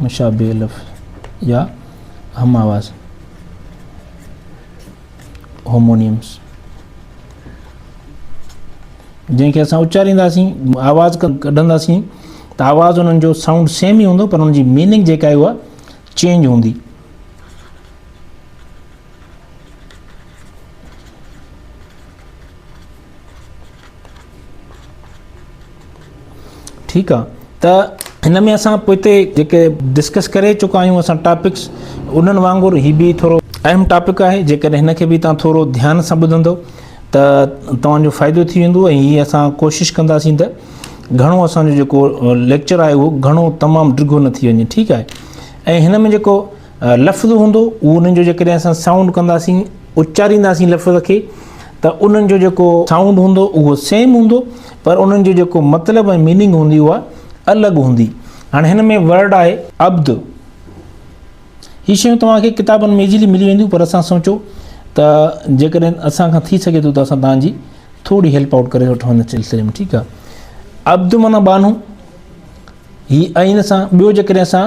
مشابه لفظ يا هم آواز، Homonyms، جنهن کي اسان اچارينداسين آواز ڪڍنداسين ته آواز انهن جو سائونڊ سيم ئي هوندو پر ان جي ميننگ جيڪا آهي اها چينج هوندي ٺيڪ آ ته هن ۾ اسان پوئتي جيڪي ڊسڪس ڪري چڪا آهيون اسان ٽاپڪس انهن وانگر هي به ٿورو اهم ٽاپڪ آهي جيڪڏهن هن کي به تان ٿورو ڌيان سان ٻڌندو ته توهان جو فائدو ٿي ويندو ۽ هي اسان ڪوشش ڪنداسين ته گهڻو اسان جو جيڪو ليڪچر آهي اهو گهڻو تمام ڊگهو نه ٿي وڃي ٺيڪ آهي ۽ هن ۾ جيڪو لفظ هوندو اهو انهن جو جيڪڏهن اسان سائونڊ ڪنداسين اچارينداسين لفظ کي ته انهن جو جيڪو سائونڊ هوندو اهو سيم هوندو پر انهن جو جيڪو مطلب ۽ ميننگ هوندي اها الڳ هوندي هاڻي هن ۾ ورڊ آهي عبد هي شيون توهان کي ڪتابن ۾ ايزلي ملي وينديون پر اسان سوچو ته جيڪڏهن اسان کان ٿي سگهي ٿو ته اسان تهان جي ٿوري هيلپ آؤٽ ڪري وٺو هن سلسلي ۾ ٺيڪ آهي عبد معنی بانو هي عين سان ٻيو جيڪڏهن اسان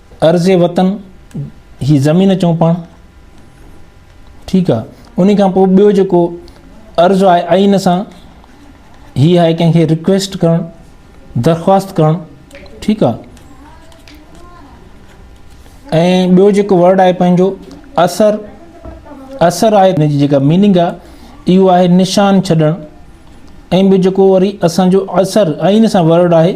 ارض وطن هي زمين چون پاڻ ٺيڪ آ انهي کان پوء ٻيو جيڪو عرض آهي آئين سان هي آهي ڪنهن کي ريڪويسٽ ڪرڻ درخواست ڪرڻ ٺيڪ آ ۽ ٻيو جيڪو ورڊ آهي پنهنجو اثر اثر آهي ان جي جيڪا ميننگ آ اهو آهي نشان ڇڏڻ ۽ ٻيو جيڪو وري اسان جو اثر آئين سان ورڊ آهي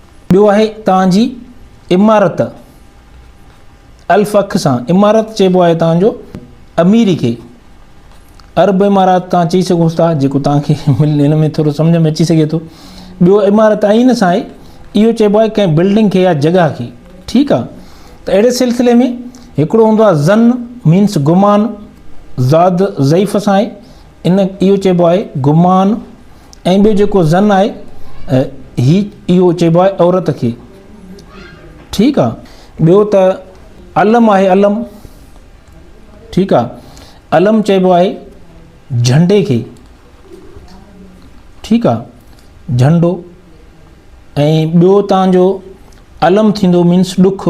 ٻيو آهي توهان جي عمارت، الف اک سان عمارت چئبو آهي توهان جو اميري کي، عرب عمارات توهان چئي سگهو ٿا جيڪو توهان کي هن ۾ ٿورو سمجهه ۾ اچي سگهي ٿو. ٻيو عمارت عين سان آهي، اهو چئبو آهي ڪنهن بلڊنگ کي يا جڳهه کي، ٺيڪ آهي. ته اهڙي سلسلي ۾ هڪڙو هوندو آهي ظن مينس گمان، ضاد ضعيف سان آهي، ان اهو چئبو آهي گمان ۽ ٻيو جيڪو زن آهي هي اهو چئبو آهي عورت کي ٺيڪ آهي ٻيو ته علم آهي علم ٺيڪ آهي علم چئبو آهي جھنڊي کي ٺيڪ آهي جھنڊو ۽ ٻيو تان جو علم ٿيندو مينس ڏک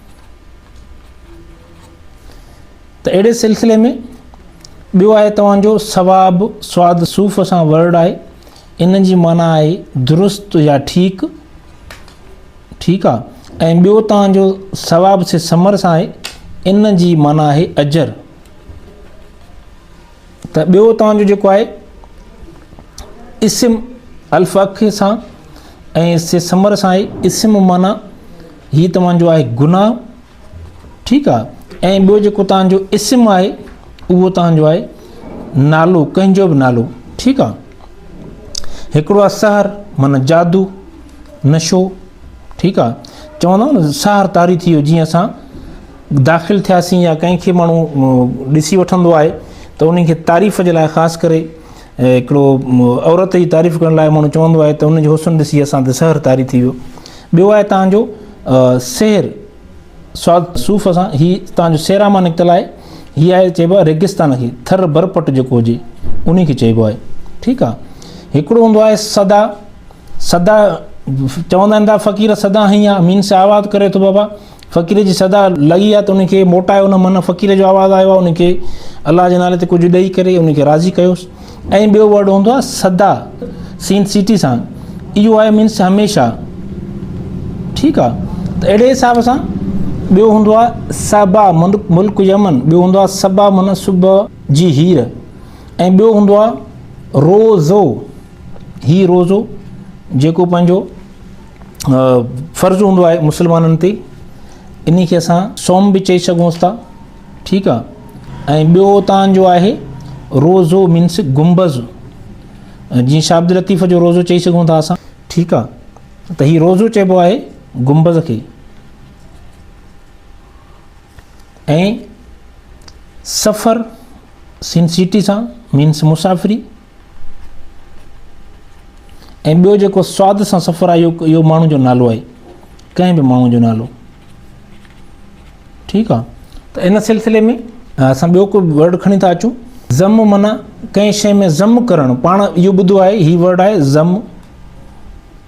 ته اهڙي سلسلي ۾ ٻيو آهي توهان جو ثواب سواد صوف سان ورڊ آهي ان جي معنيٰ آهي درست يا ٺيڪ ٺيڪ آ ۽ ٻيو توهان جو ثواب سي سمر سان آهي ان جي معنيٰ آهي اجر ته ٻيو توهان جو جيڪو آهي اسم الف اک سان ۽ سي سمر سان آهي اسم معنی هي توهان جو آهي گناهه ٺيڪ آهي ۽ ٻيو جيڪو توهان جو اسم آهي اهو توهان جو آهي نالو ڪنهن جو به نالو ٺيڪ آهي هڪڙو آهي سحر معنی جادو نشو ٺيڪ آهي چوندا سحر تاري ٿي ويو جيئن اسان داخل ٿياسين يا ڪنهن کي ماڻهو ڏسي وٺندو آهي ته انهن کي تعريف جي لاء خاص ڪري هڪڙو عورت جي تعريف ڪرڻ لاء ماڻهو چوندو آهي ته ان جو حسن ڏسي اسان تي سحر طاري ٿي ويو ٻيو آهي تان جو سحر سواد صوف اسان هي تان جو سيرا مان نڪتل آهي هي آهي چئبو آهي ريگستان کي ٿر برپٽ جيڪو هجي ان کي چئبو آهي ٺيڪ آهي هڪڙو هوندو آهي سدا سدا چوندا آهن ته فقير سدا هي مين سي آواز ڪري ٿو بابا فقير جي صدا لڳي آ ته ان کي موٽايو نه من فقير جو آواز آيو آ ان کي الله جي نالي تي ڪجهه ڏئي ڪري ان کي راضي ڪيوس ۽ ٻيو ورڊ هوندو آ صدا سين سيٽي سان ايو آ مينس هميشه ٺيڪ آ ته اهڙي حساب سان ٻيو هوندو آ صبا ملڪ يمن ٻيو هوندو آ صبا من صبح جي هير ۽ ٻيو هوندو آ روزو هي روزو جيڪو پنهنجو فرض هوندو آهي مسلمانن تي انهي کي اسان سوم به چئي سگهونس ٿا ٺيڪ آ ۽ ٻيو تان جو آهي روزو مينس گنبذ جي شابد لطيف جو روزو چئي سگهون ٿا اسان ٺيڪ آ ته هي روزو چئبو آهي گنبذ کي ۽ سفر سين سيٽي سان مينس مسافري ۽ ٻيو جيڪو سواد سان سفر آهي اهو ماڻهو جو نالو آهي ڪنهن به ماڻهو جو نالو ٺيڪ آ ته ان سلسلي ۾ اسان ٻيو ڪو ورڊ کڻي ٿا اچون ضم منا ڪنهن شيء ۾ ضم ڪرڻ پاڻ اهو ٻڌو آهي هي ورڊ آهي ضم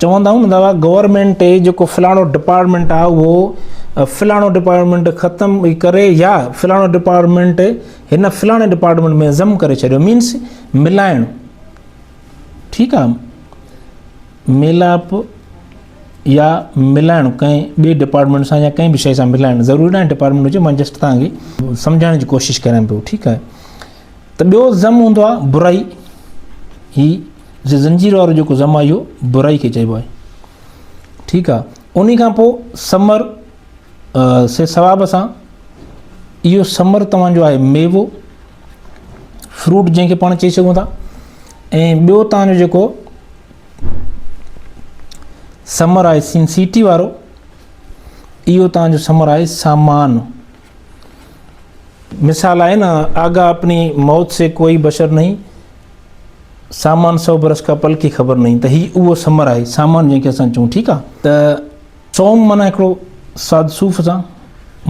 چوندا آهيون نه دوا گورنمنٽ جيڪو فلاڻو ڊپارٽمنٽ آ اهو فلاڻو ڊپارٽمنٽ ختم ڪري يا فلاڻو ڊپارٽمنٽ هن فلاڻي ڊپارٽمنٽ ۾ ضم ڪري ڇڏيو مينس ملائڻ ٺيڪ آ ميلاپ يا ملائڻ ڪنهن ٻي ڊپارٽمنٽ سان يا ڪنهن به شيء سان ملائڻ ضروري ناهي ڊپارٽمنٽ هجي مان جسٽ تان کي سمجھائڻ جي ڪوشش ڪريان پيو ٺيڪ آهي ته ٻيو ضم هوندو آهي برائي هي جو زنجير وارو جيڪو ضم آهي اهو برائي کي چئبو آهي ٺيڪ آهي ان کان پوء سمر سي ثواب سان اهو ثمر توهان جو آهي ميوو فروٽ جنهن کي پاڻ چئي سگهون ٿا ۽ ٻيو توهان جو جيڪو ثمر آهي سين سيٽي وارو اهو توهان جو ثمر آهي سامان مثال آهي نه آگا اپني موت سي ڪوئي بشر نئي سامان سو برس کا پل کي خبر نئي ته هي اهو ثمر آهي سامان جنهن کي اسان چون ٺيڪ آهي ته صوم معنيٰ هڪڙو ساڌ صوف سان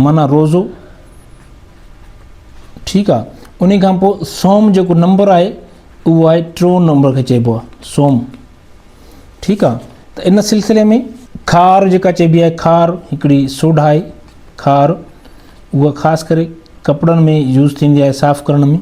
معنيٰ روزو ٺيڪ آ انهي کان پوء صوم جيڪو نمبر آهي اهو آهي ٽيون نمبر کي چئبو آ صوم ٺيڪ آ ته ان سلسلي ۾ کار جيڪا چئبي آهي کار هڪڙي سوڍا آهي کار اها خاص ڪري ڪپڙن ۾ يوز ٿيندي آهي صاف ڪرڻ ۾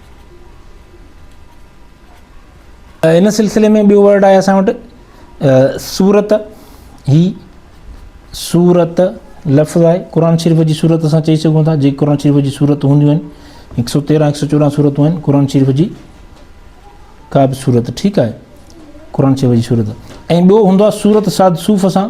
ان سلسلي ۾ ٻيو ورڊ آهي اسان وٽ سورت هي سورت لفظ آهي قرآن شريف جي سورت اسان چئي سگهون ٿا جي قرآن شريف جي سورت هونديون آهن هڪ سو تيرهن هڪ سو چوڏهن سورتون آهن قرآن شريف جي ڪا به سورت ٺيڪ آهي قرآن شريف جي سورت ۽ ٻيو هوندو آهي سورت ساد صوف سان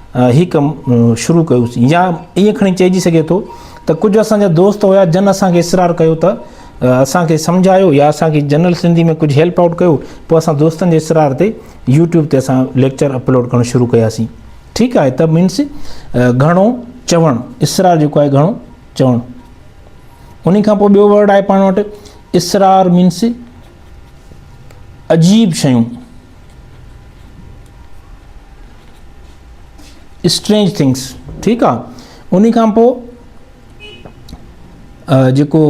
هي ڪم شروع ڪيوسين يا ائين کڻي چئجي سگهي ٿو ته ڪجهه اسان جا دوست هيا جن اسان کي اصرار ڪيو ته اسان کي سمجهايو يا اسان کي جنرل سنڌي ۾ ڪجهه هيلپ آئوٽ ڪيو پوء اسان دوستن جي اصرار تي يوٽيوب تي اسان ليڪچر اپلوڊ ڪرڻ شروع ڪياسين ٺيڪ آهي ته مينس گهڻو چوڻ اصرار جيڪو آهي گهڻو چوڻ ان کان پوء ٻيو ورڊ آهي پاڻ وٽ اصرار مينس عجيب شيون اسٽرينج ٿنگس ٺيڪ آ اني کان پو جيڪو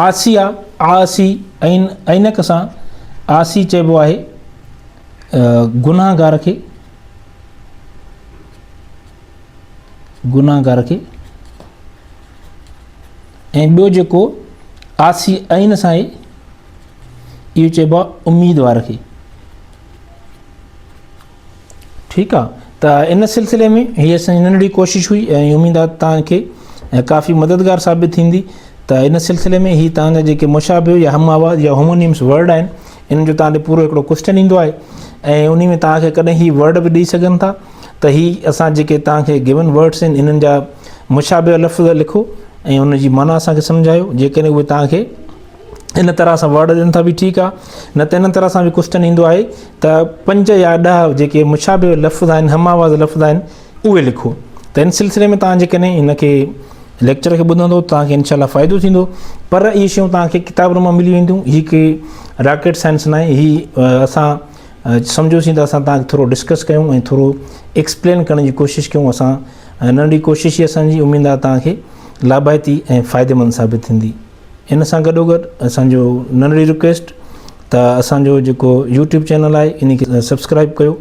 آسي آ آسي عين عينڪ سان آسي چئبو آهي گناهگار کي گناهگار کي ۽ ٻيو جيڪو آسي عين سان اهو چئبو آهي اميدوار کي ٺيڪ آهي ته ان سلسلي ۾ هي اسان جي ننڍڙي ڪوشش هئي ۽ اميد آهي توهان کي ڪافي مددگار ثابت ٿيندي ته ان سلسلي ۾ هي توهان جا جيڪي مشابه يا هم آواز يا هومونيمس ورڊ آهن ان جو توهان تي پورو هڪڙو ڪوشچن ايندو آهي ۽ ان ۾ توهان کي ڪڏهن هي ورڊ به ڏيئي سگهن ٿا ته هي اسان جيڪي توهان کي گيون ورڊس آهن انهن جا مشابه لفظ لکو ۽ ان جي معنيٰ اسان کي سمجهايو جيڪڏهن اهي توهان کي ان طرح سان ورڊ ڏين ٿا به ٺيڪ آ نه ته ان طرح سان به ڪوسٽن ايندو آهي ته پنج يا ڏهه جيڪي مشابه لفظ آهن هم آواز لفظ آهن اهي لکو ته ان سلسلي ۾ توهان جيڪڏهن ان کي ليڪچر کي ٻڌندو توهان کي انشاء الله فائدو ٿيندو پر اهي شيون توهان کي ڪتاب روم ملي وينديون هي ڪي راڪيٽ سائنس نه آهي هي اسان سمجھوسين ته اسان توهان کي ٿورو ڊسڪس ڪيون ۽ ٿورو ايڪسپلين ڪرڻ جي ڪوشش ڪيون اسان ننڍي ڪوشش هي اسان جي اميد آهي توهان کي لابائتي ۽ فائديمند ثابت ٿيندي ان سان گڏو گڏ اسان جو ننڍڙي رڪويسٽ ته اسان جو جيڪو يوٽيوب چينل آهي ان کي سبسڪرائب ڪيو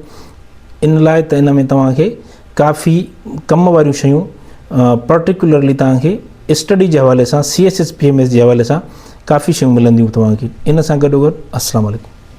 ان لاء ته ان ۾ توهان کي ڪافي ڪم واريون شيون پرٽيڪولرلي توهان کي اسٽڊي جي حوالي سان C S S P M S جي حوالي سان ڪافي شيون ملنديون توهان کي ان سان گڏو گڏ السلام علیکم